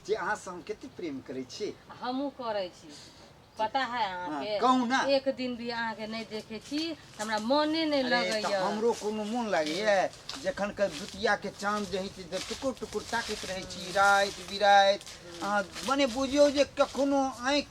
जे अहाँ से हम कते प्रेम करै छी हमहूँ करै छी पता है हाँ, अहाँके कहू ना। एक दिन भी अहाँके नहि देखै छी तऽ हमरा मोने नहि अरे, तऽ लगैया हमरो कोनो मोन लागैए जखन के दुतिया के चाँद जे होइत तऽ टुकुर टुकुर ताकैत रहै छी राति बिराति अहाँ मने बुझियौ जे कखनो आँखि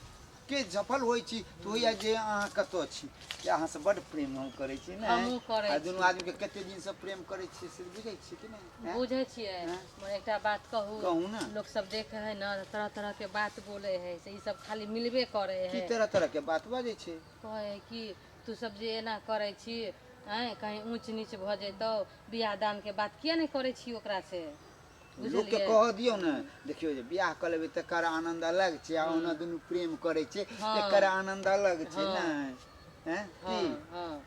के झफल होइ छी तऽ होइया जे अहाँ कतऽ छी कि अहाँसँ बड्ड प्रेम हम करै छी ने हमहूँ करै आ दुनू छी। आदमीके कते दिनसँ प्रेम करै छियै से बुझै छियै कि नहि आँय? बुझै छियै हँ। मगर एकटा बात कहू कहू ने। लोक सब देखे है न तऽ तरह तरह के बात बोले है से ई सब खाली मिलबे करे की है तरह तरहके बात बजै छै कहै है कि तू सब जे एना करै छी आँय कहीं ऊँच नीच भऽ जैतौ बियाह दानके बात किया नहि करै छी ओकरा से लोकके बुझलियै कह दियौ ने देखियौ जे बियाह कऽ लेबै तकर आनन्द अलग छै आ ओना दुनू प्रेम करै छै हँ। एकर आनन्द अलग छै हँ। नै हैं की हँ हँ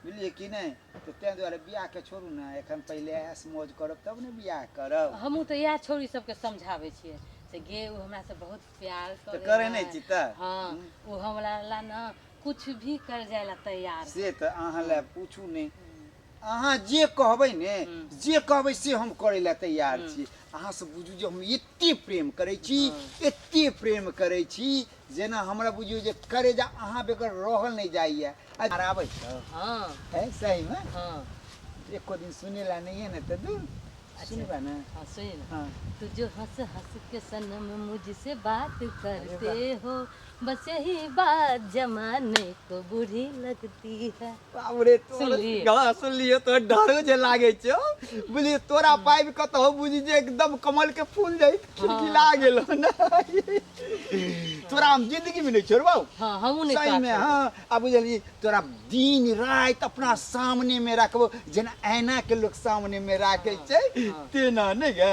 बुझलियै कि नै तऽ तैँ दुआरे बियाहके छोड़ू ने एखन पहिले ऐश मौज करब तब ने बियाह करब हमहूँ तऽ इएह छौरी सबके समझाबै छियै से गे ओ हमरा से बहुत प्यार तऽ करे करै नहि छी तऽ हँ ओ हमरा ला ने कुछ भी कर जाय ला तैयार से तऽ अहाँ लए पूछू नहि अहाँ जे कहबै ने जे कहबै से हम करै लए तैयार छी अहाँ सब बुझू जे हम एते प्रेम करै छी एते प्रेम करै छी जेना हमरा बुझियौ जे करे जा अहाँ बेगर रहल नहि जाइए आ आबै छौ हँ है सही में हँ एको दिन सुने ला नहीं है ना तो दूर सुनबा ना हाँ सुनिए ना हाँ। तू जो हंस हंस के सनम मुझसे बात करते हो बस यही बात जमाने को बुरी लगती है बाप रे तोर सुनलियै? गाना सुनलियै तो डरो जे लागे छो बुझलियै तोरा पाइब कतौ बुझी जे एकदम कमल के फूल जाई खिलखिला गेल ना तोरा हम जिंदगी में नहीं छोड़बौ हाँ हमू नहीं सही में चाहते। हाँ आ बुझलियै तोरा दिन रात अपना सामने में रखबो जेना ऐना के लोग सामने में राखे छै तेना नहीं गे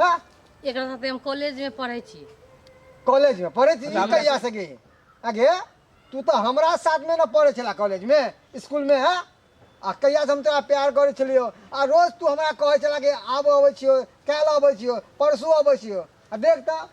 हाँ, एकरा साथे हम कॉलेज में पढ़े छी कॉलेज में पढ़े थी अच्छा, हमरा कहिया से गई आगे तू तो हमरा साथ में ना पढ़े छला कॉलेज में स्कूल में है आ कहिया से हम तोरा प्यार करे छलियो आ रोज तू हमरा कहे छला कि आब अबै छियो काल्हि अबै छियो परसू अबै छियो आ देख तऽ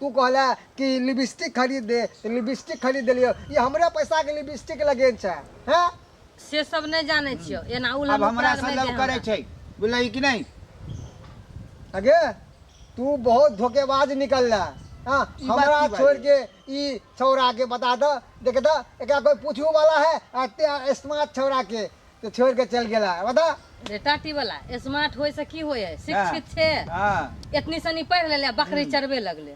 तू कहला कि लिपस्टिक खरीद दे तो लिपस्टिक खरीद दिलियो ये हमरा पैसा के लिपस्टिक लगे छै हैं से सब नहीं जाने छियो एना अब उलम हमरा से लव करे छै बुझलही कि नहीं अगे तू बहुत धोखेबाज निकलला हाँ ई बात हमरा की बात छोड़ के ई छौरा के बता दो देख दो एकरा कोई पूछू वाला है आ ते स्मार्ट छौरा के तो छोड़ के चल गेला बता बेटा टी वाला स्मार्ट होय से की होय है शिक्षित छे हां इतनी सनी पढ़ लेले बकरी चरबे लगले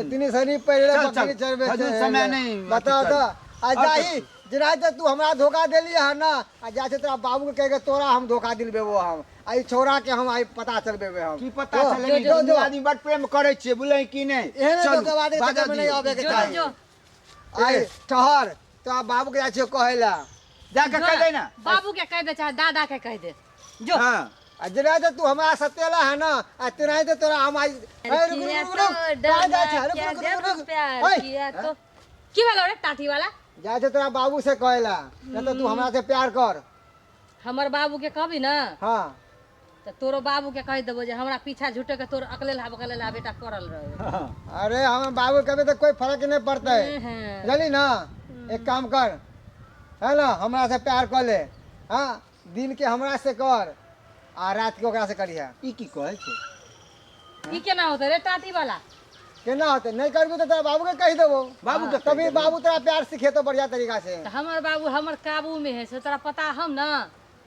इतनी सनी पहले चल, बकरी चल, चरबे अजून से समय नहीं, बताओ अथी तो आ और जाही जिना तो तू हमरा धोखा देली है ना आ जा से तोरा बाबू के कह के तोरा हम धोखा दिलबे वो हम आ ई छोरा के हम आई पता चलबे बे हम की पता तो, चले जो, जो, जो। आदमी बड़ प्रेम करे छे बुझले कि नहीं एहन चलू, धोखेबाजी के बाजा चक्कर में नहीं दियौ। आबे के जो चाही जो आय ठहर तो आप बाबू के जाछियो कहेला जाके कह दे ना बाबू के कह दे चाहे दादा के कह दे जो हां आ जेना जे तू हमरा सतेला है ना आ तेना जे तोरा हम आज अरे रुक रुक रुक रुक कहाँ जा छे रुक रुक रुक रुक प्यार ओए, किया तो की वाला रे टाटी वाला जा छे तोरा बाबू से कहेला ना तो तू हमरा से प्यार कर हमर बाबू के कहबी ना हां तऽ तोरो बाबू के कहि देबो जे हमरा पीछा झूठे के तोर अकलेला बकलेला बेटा पड़ल रहे अरे हम बाबू कहबे तो कोई फर्क नहीं पड़ता है हम्म। जानी ना एक काम कर है ना हमरा से प्यार कर ले हाँ दिन के हमरा से कर आ रात के ओकरा से करिहा ई की कहै छै ई केना होते रे टाटी वाला केना होते नहीं करबू तो तोरा बाबू के कहि देबो बाबू के कहि तभी देबो। बाबू तोरा प्यार सिखेतो बढ़िया तरीका से तऽ हमर बाबू हमर काबू में है से तोरा पता हम ना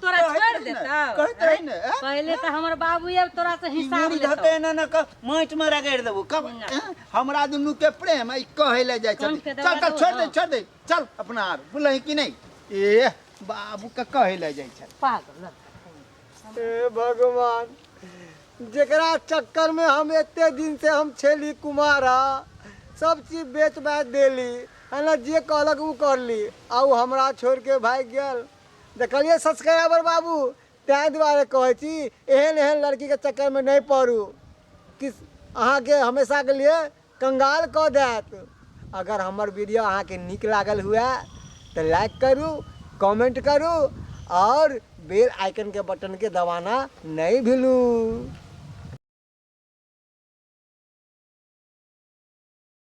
तोरा कहैत छोड़ि रही ने, देतौ कहैत रही ने, ऐं? पहिले तऽ हमर बाबू आब तोरा से ई हिसाब मुड़ी लेतौ धके एना ना क माटि में रगड़ि देबो कब ना। ऐं? हमरा दुनू के प्रेम ई कहै ले जाइ कोन छथि के चल दवा चल देबो छोड़ दे ना। छोड़ दे चल अपना आर बोलै कि नहीं ए बाबू के कहै ले जाइ छथि पागल हे भगवान जेकरा चक्कर में हम एते दिन से हम छेली कुमारा सब चीज बेच बाच देली है ना जे कहलक उ करली आ उ हमरा छोड़ के भाग गेल देखलियै सब्सक्राइबर बाबू ताहि दुआरे कहै छी एहन एहन लड़कीके चक्करमे नहि पड़ू कि अहाँके हमेशाके लिए कंगाल कऽ देत अगर हमर वीडियो अहाँके नीक लागल हुए तऽ लाइक करू कमेंट करू आओर बेल आइकनके बटनके दबाना नहि भूलू